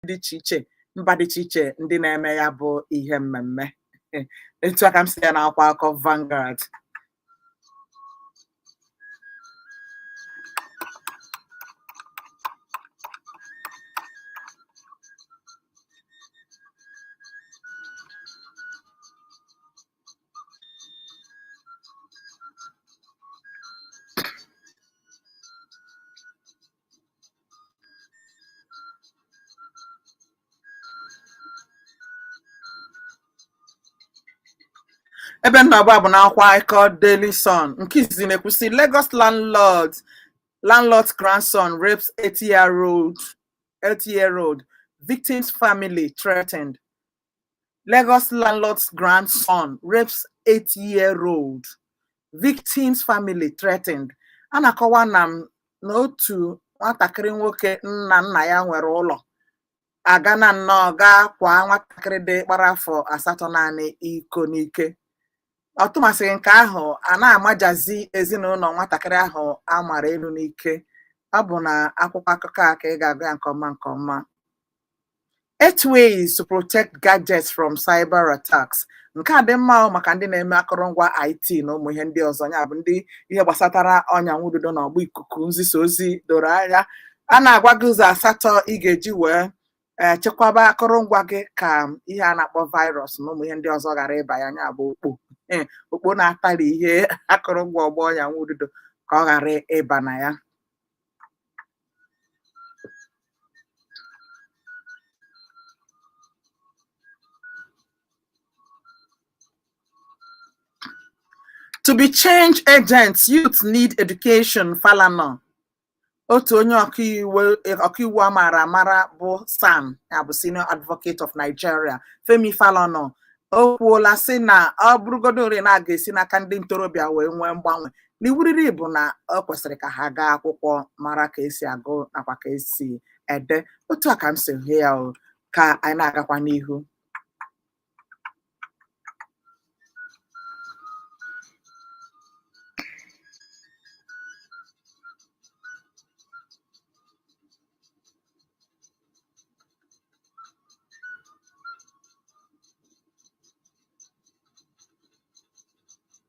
dị iche iche mba dị iche iche ndị na-eme ya bụ ihe mmemme etu a ka m si ya n'akwụkwọ akụkọ Vanguard ebe m na-agba bụ n'akwụkwọ akụkọ Daily Sun nke izizi na-ekwu sị Lagos landlord's grandson rapes eight-year-old victim's family threatened Lagos landlord's grandson rapes eight-year-old victim's family threatened a na-akọwa na m na otu nwatakịrị nwoke nna nna ya nwere ụlọ agaana nnọọ gaa kwaa nwatakịrị dị gbara afọ asatọ naanị iko n'ike ọ tụmasịghị nke ahụ a na-amajazi ezinụlọ nwatakịrị ahụ a mara elu n'ike ọ bụ na akwụkwọ akụkọ a ka ị ga-agụ ya nke ọma nke ọma Eight ways to protect gadgets from cyber attacks. Nke a dị mma maka ndị na-eme akụrụngwa IT na ụmụ ihe ndị ọzọ ya bụ ndị ihe gbasatara ọnya nwududo na ọgba ikuku nzisa ozi doro anya a na-agwa gị ụzọ asatọ ị ga-eji wee eh, chekwaba akụrụngwa gị ka ihe a na-akpọ virus na ụmụ ihe ndị ọzọ ghara ịba ya ya bụ okpo eh, okpo na-atari ihe akụrụngwa ọgbọ ọnya nwududo ka ọ ghara ịba na ya To be change agents, youth need education, Falana. Otu onye ọkaiwu a mara amara bụ SAN ya bụ senior advocate of Nigeria, Femi Falana. O kwuola sị na ọ bụrụgodori na a ga-esi n'aka ndị ntorobịa wee nwee mgbanwe na iwu riri bụ na ọ kwesịrị ka ha gaa akwụkwọ mara ka e si agụ nakwa ka e si ede otu a ka m si hụ ya o ka anyị na-agakwa n'ihu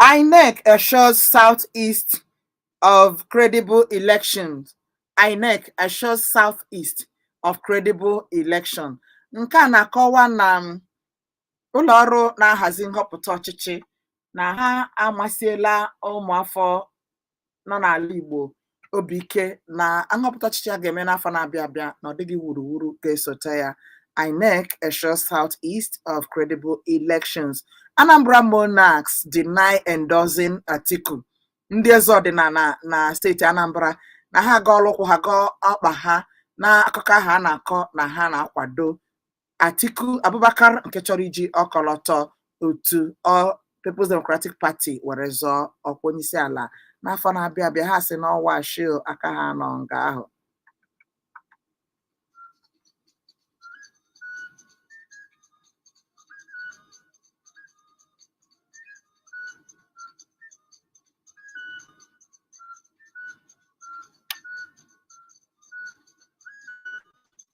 INEC assures Southeast of credible elections. INEC assures Southeast of credible election. Nke a na-akọwa na um, ụlọ ọrụ na-ahazi nhọpụta ọchịchị na ha emesiela ụmụafọ nọ n'ala Igbo obi ike na nhọpụta ọchịchị a ga-eme n'afọ na-abịa abịa na ọ dịghị wuruwuru ga-esote ya INEC assures Southeast of credible elections Anambra monarchs deny endorsing Atiku ndị eze ọdịnala na steeti Anambra na ha agọọla ụkwụ ha gọọ ọkpa ha na akụkọ ahụ a na-akọ na ha na-akwado Atiku Abubakar nke chọrọ iji ọkọlọtọ otu ọ People's Democratic Party were zọọ ọkwa onyeisi ala n'afọ na-abịa abịa ha sị na ọ wụ ashị na aka ha nọ nga ahụ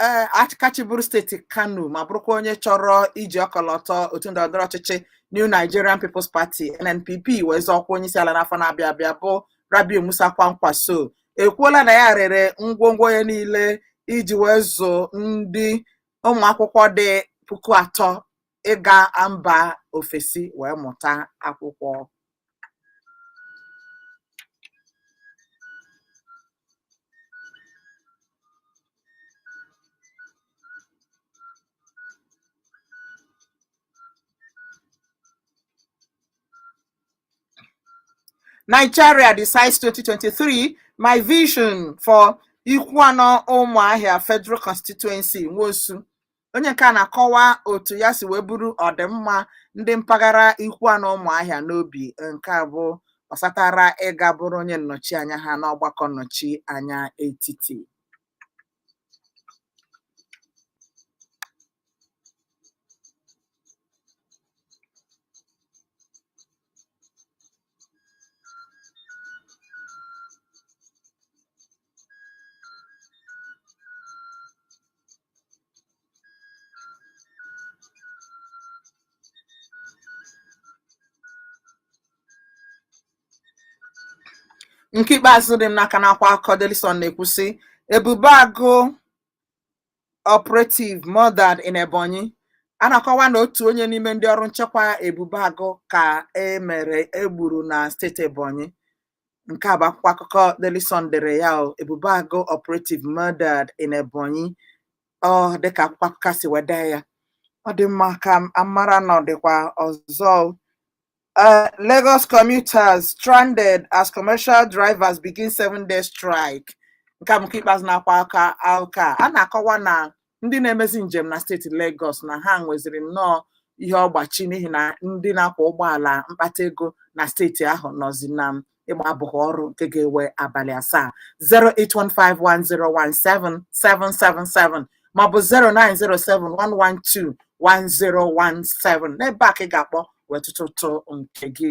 ee achị aka chịburu steeti Kano ma bụrụkwa onye chọrọ iji ọkọlọtọ otu ndọrọndọrọ ọchịchị New Nigerian People's Party NNPP wee zọọ ọkwa onye isi ala n'afọ na-abịa abịa bụ Rabiu Musa Kwankwaso ekwuola na ya rere ngwongwo ya niile iji wee zụọ ndị ụmụ akwụkwọ dị puku atọ ịga mba ofesi wee mụta akwụkwọ. Nigeria decides 2023 my vision for Ikwuanọ Ụmụahịa Federal Constituency Nwosu onye nke a na-akọwa otu ya si wee buru ọdịmma ndị mpaghara Ikwuanọ Ụmụahịa n'obi nke a bụ ọsatara ịga bụrụ onye nnọchi anya ha n'ọgbakọ nnọchi anya etiti nke ikpeazụ dị m n'aka n'akwụkwọ akụkọ Daily Sun na-ekwu sị Ebube Agụ operative murdered in Ebonyi a na-akọwa na otu onye n'ime ndị ọrụ nchekwa Ebube Agụ ka e mere e gburu na steeti Ebonyi nke a bụ akwụkwọ akụkọ Daily Sun dere ya o Ebube Agụ operative murdered in Ebonyi ọ dịka akwụkwọ akụkọ si wee dee ya ọ dị mma ka a mara na ọ dịkwa ọzọ o. Uh, Lagos commuters stranded as commercial drivers begin seven day strike. Nke a bụ nke ikpeazụ n'akwụkwọ akụkọ. A na-akọwa na ndị na-emezi njem na steeti Lagos na ha nweziri nnọọ ihe ọgbachi n'ihi na ndị na-akwọ ụgbọala mkpata ego na steeti ahụ nọzi na ịgba abụbọ ọrụ nke ga-ewe abalị asaa 08151017777 maọbụ 09071121017 n'ebe a ka ị ga-akpọ wee tụtụ ụtụ nke gị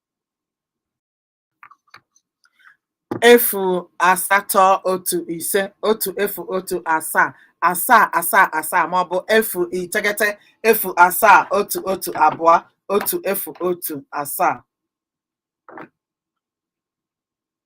efu asatọ otu ise otu efu otu asaa asaa asaa asaa maọbụ efu iteghete efu asaa otu otu abụọ otu efu otu asaa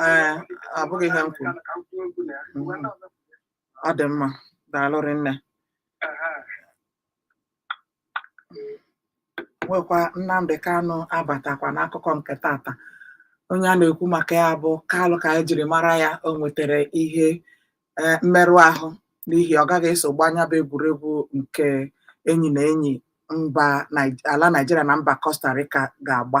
ee abụghị ihe m kwuru Mhm. ọ dị mma daalụ rinne nwekwa Nnamdi Kanu abatakwa n'akụkọ nke tata onye a na-ekwu maka ya bụ Kalụ ka e jiri mara ya o nwetara ihe eh, mmerụ ahụ n'ihi ọ gaghị eso gbaa nya bụ egwuregwu nke enyi na enyi mba Nai- ala Naịjirịa na mba Costa Rica ga-agba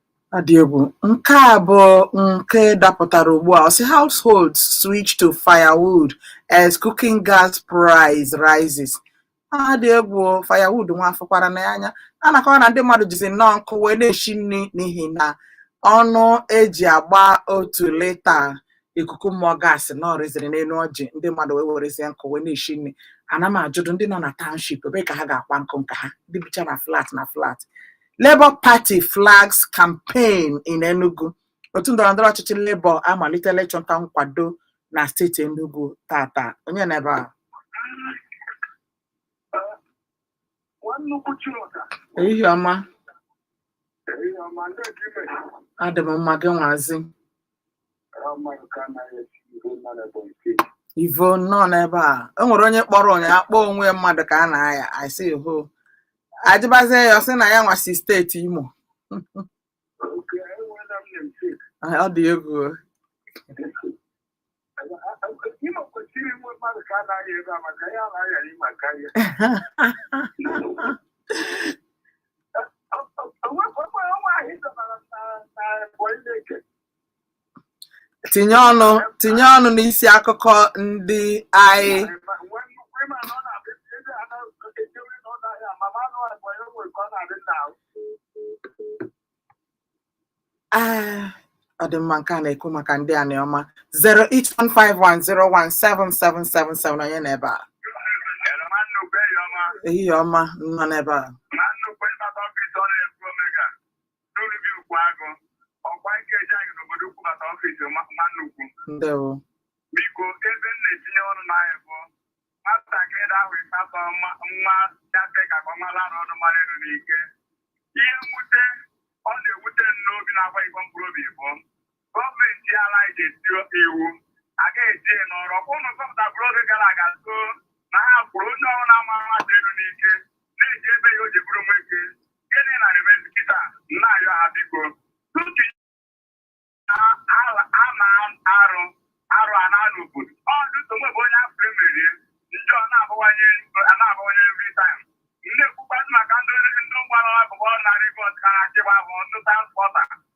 Adị egwu. Nke a bụ nke dapụtara ugbu a. Ọ sị households switch to firewood as cooking gas price rises. Adị egwu firewood nwa a fụkwara nya anya. A na-akọwa na ndị mmadụ jizi nnọọ nkụ wee na-esi nri n'ihi na ọnụ e ji agba otu lita ikuku mmụọ gaasị na ọ rịziri n'elu ọjị ndị mmadụ wee werezie nkụ wee na-esi nri. Ana m ajụdụ ndị nọ na township ebe ka ha ga-akwa nkụ nke ha ndị bicha na flat na flat Labour Party flags campaign in Enugu. Otu ndọrọndọrọ ọchịchị Labour amalitela ịchọta nkwado na steeti Enugu tata. Onye nọ ebe a? Ehihie ọma. Adị m mma gị nwazi. Ivo nnọọ n'ebe a e nwere onye kpọrọ ụnyaahụ akpọ onwe mmadụ ka a na-aya asị ho a jụbazie ya ọ sị na ya nwa si steeti Imo Ah, ọ dị egwu o. tinye ọnụ tinye ọnụ n'isi akụkọ ndị anyị Ah, ọ dị mma nke a na-ekwu maka ndị a na ọma 08151017777 onye nọ ebe a ehihie ọma nnọọ n'ebe a n'olubi ukwu agụ ọkwa nke eji anyị n'obodo ukwu bata ọfịs nwanne ukwu ndewo biko ebe m na-etinye ọnụ n'ahịa bụ nwatakịrị ahụ ịkpatọ nwa dafe ka ka ọnwa lara ọnụ mara elu n'ike ihe mwute ọ na-ewute m n'obi na-agwa igbo mkpụrụ obi bụ gọọmenti ala anyị ga-eti oke iwu a ga-eji ya n'ọrụ ọkwa ụnụ zọpụtabụrụ oge gara aga so na ha kwuru onye ọrụ na-ama mmadụ elu n'ike na-eji ebe ya o ji bụrụ nwoke gịnị na-emezi kịta na-ayọ ha biko tutu ha na arụ arụ a na-anụ obodo ọ dịtụ mgbe bụ onye afọ emerie njọ na-abawanye na-abawanye every time na-ekwukwa maka ndị ndị ụgbọala bụ ọrụ narị bọs ka na-achịgba bụ ndị transpọta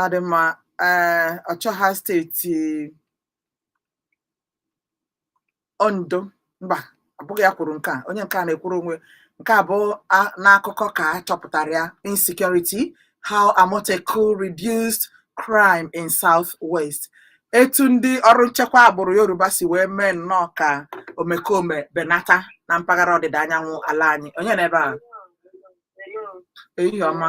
ọ dị mma ee ọchịọha steeti ondo mba abụghị ya kwuru nke a onye nke a na-ekwuru onwe nke a bụ a- n'akụkọ ka a chọpụtara ya insecurity how amotekun reduced crime in south west etu ndị ọrụ nchekwa agbụrụ yoruba si wee mee nnọọ ka omekome benata na mpaghara ọdịda anyanwụ ala anyị onye nọ ebe a ehihie ọma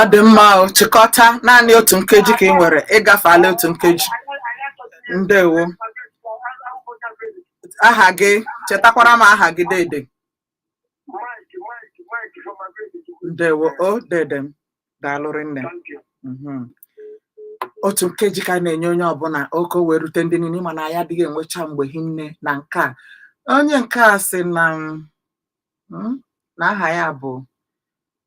ọ dị mma o chịkọta naanị otu nkeji ka ị nwere ị gafeala otu nkeji ndewo aha gị chetakwara m aha gị dede ndewo o dede m daalụ rinne Mhm. otu nkeji ka a na-enye onye ọbụla oke wee rute ndị niile mana ya adịghị enwecha mgbe hinne na nke a onye nke a sị na m hmm, na aha ya bụ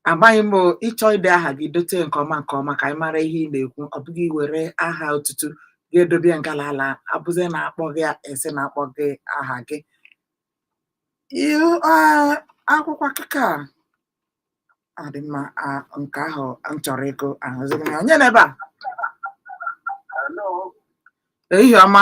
amaghị m ị chọọ ide aha gị dote nke ọma nke ọma ka anyị mara ihe ị na-ekwu ọ bụghị iwere aha otutu gị edobe ngala ala abụzi na-akpọ gị esi na-akpọ gị aha gị akwụkwọ akụkọ a dị mma nke ahụ m chọrọ ịgụ ahụzighị m ya onye nọ ebe a ehihie ọma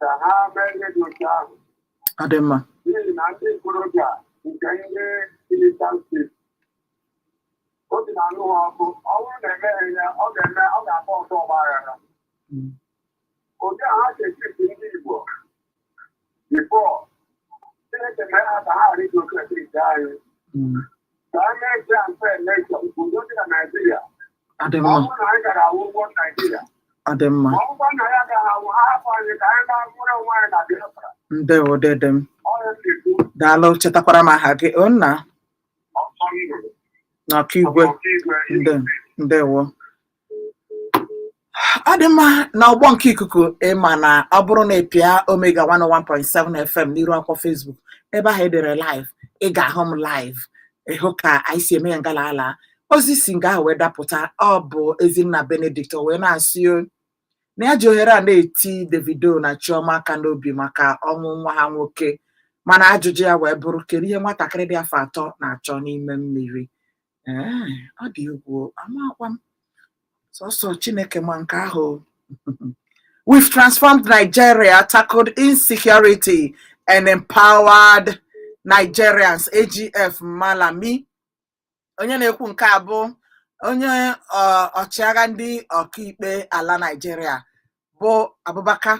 ka ha mee ihe dị otu ahụ ọ dị mma n'ihi na ndị ntorobịa nke ndị Kilitan steeti obi na-anụ ha ọkụ ọ bụrụ na emeghị ya ọ ga-eme ọ ga-abụ oke ọgba aghara Mm. otu a ha si echipi ndị Igbo bifọ Chineke mee ha ka ha ghara iji oke esi ite anyị Mm. ọ dị mma ndewo dede m daalụ chetakwara m aha gị onna na okigwe ndewo ọ dị mma na ọgbọ nke ikuku ị ma na ọ bụrụ na ị pịa omega 101.7 fm n'iru akwụkwọ facebook ebe ahụ e dere live ị ga-ahụ m live ị hụ ka anyị si eme ya ngala ala ozi si nga ahụ wee dapụta ọ bụ ezinna benedict o wee na-asị o, na ya ji ohere a na-eti davido na chioma aka n'obi maka ọnwụ nwa ha nwoke mana ajụjụ ya wee bụrụ kedu ihe nwatakịrị dị afọ atọ na-achọ n'ime mmiri Ee, ọ dị egwu o. amakwa m sọsọ chineke ma nke ahụ o. We've transformed Nigeria, tackled insecurity, and empowered Nigerians. AGF Malami. Onye na-ekwu nke a bụ onye ọ, ọchịagha ndị ọkaikpe ala Nigeria bụ Abubakar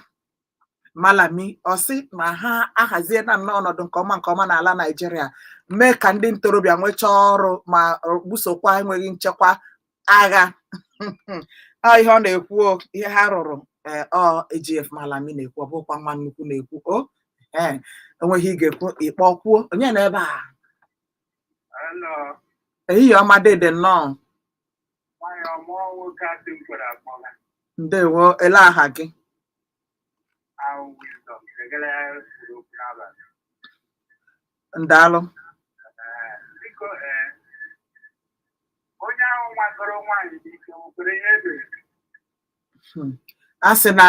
Malami ọ sị na ha ahaziena nnọọ ọnọdụ nke ọma nke ọma n'ala Naịjirịa mee ka ndị ntorobịa nwechaa ọrụ ma busokwa enweghị nchekwa agha ọ ihe ọ na-ekwu o, ihe ha rụrụ ee, ọ AGF Malami na-ekwu ọ bụkwa nwa nnukwu na-ekwu o ee o nwee ihe ị ga-ekwu ị kpọọ kwuo onye nọ ebe a Hello. ehihie ọma dede nnọọ ndewo elee aha gị daalụ a sị na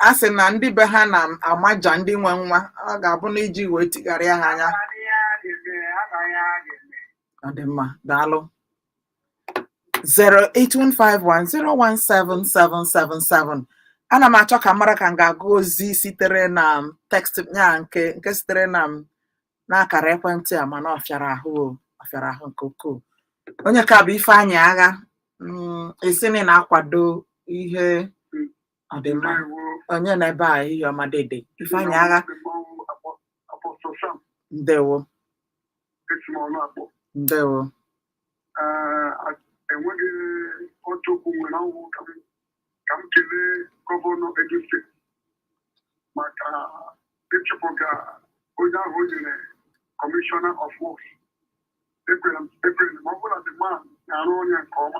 a sị na ndị be ha na-amaja ndị nwe nwa ọ ga-abụ na iji wee tigharịa ha anya ọ dị mma daalụ 08151017777 ana m achọ ka m mara ka m ga-agụ ozi sitere na m text ya nke nke sitere na m n'akara ekwentị a mana ọ fịara ahụ o, ọ fịara ahụ nke ukwuu onye nke a bụ ifeanyị agha mm, ị sị na ị na-akwado ihe ọ dị mma ndewo onye nọ ebe a ehihie ọma dede ifeanyị agha apostle sam ndewo esi m ọnụ akpọ ndewo Ee, a- enweghị otu okwu nwere ọ wụ ka m ka m kelee gọvanọ Edo steeti maka ịchụpụga onye ahụ o nyere commissioner of works ekwere m ekwere m ọ bụrụ na the man na-arụ ọrụ ya nke ọma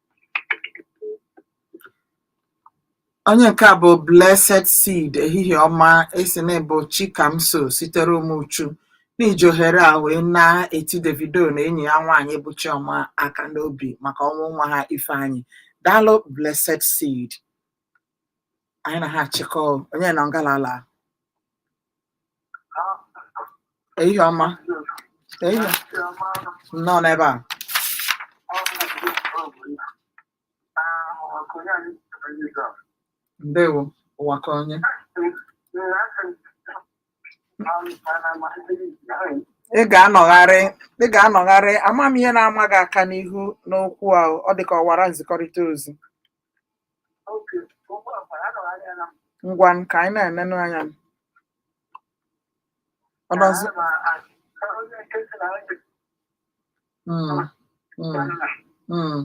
onye nke a bụ blessed seed ehihie ọma ị sị na ị bụ chikamso sitere ụmụchu na i ji ohere a wee na-eti davido na enyi ya nwaanyị bụ chioma aka n'obi maka ọnwụ nwa ha ifeanyị daalụ blessed seed anyị na ha achịkọ onye nọ ngalala ehihie ọma ehihie nnọọ n'ebe a ndewo ụwa ka onye ị ga-anọgharị ị ga-anọgharị ama m ihe na-ama gị aka n'ihu n'okwu ahụ ọ dị ka ọwara nzikọrịta ozi ngwa ka anyị na-enenụ anya ọ nọzi Mm, mm, mm.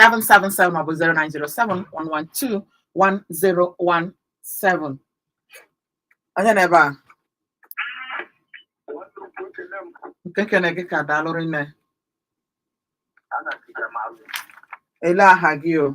seven seven seven maọbụ zero nine zero seven one one two one zero one seven. Onye nọ ebe a? Nke kene gị ka daalụ rinne. Ele aha gị o.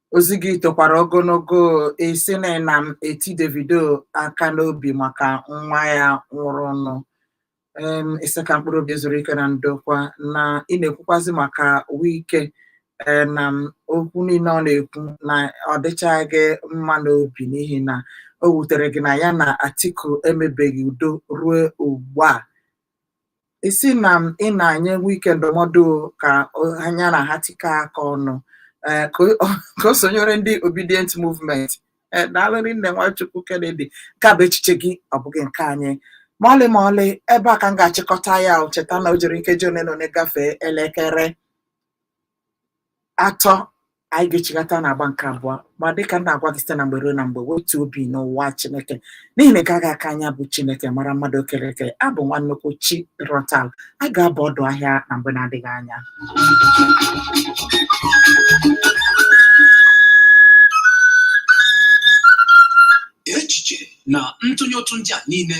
ozi gị tokwara ogologo esi na na m eti davido aka n'obi maka nwa ya nwụrụnụ em ị sị ka mkpụrụ obi ya zuru ike na ndokwa na ị na-ekwukwazi maka wike ee na m okwu niile ọ na-ekwu na ọ dịchaghị gị mma n'obi n'ihi na o wutere gị na ya na atiku emebeghị udo ruo ugbu a ị sị na m ị na-enye wike ndụmọdụ ka o- nya na ha tikọọ aka ọnụ eh, ka o- ka o sonyere ndị obidient movement Eh, daalụ rinne nwachukwu kennedy nke a bụ echiche gị ọ bụghị nke anyị ma ọlị ma ọlị ebe a ka m ga-achịkọta ya o, cheta na o jiri nkeji one na one gafee elekere atọ anyị ga-echigata n'agba nke abụọ ma dịka m na-agwa gị site na mgbe ruo na mgbe wetu obi n'ụwa Chineke n'ihi na ị gaghị aka nya bụ Chineke mara mmadụ o kere eke abụ nwa nnukwu chi rọtal a ga-aba ọdụ ahịa na mgbe na-adịghị anya echiche na ntụnye ụtụ ndị a niile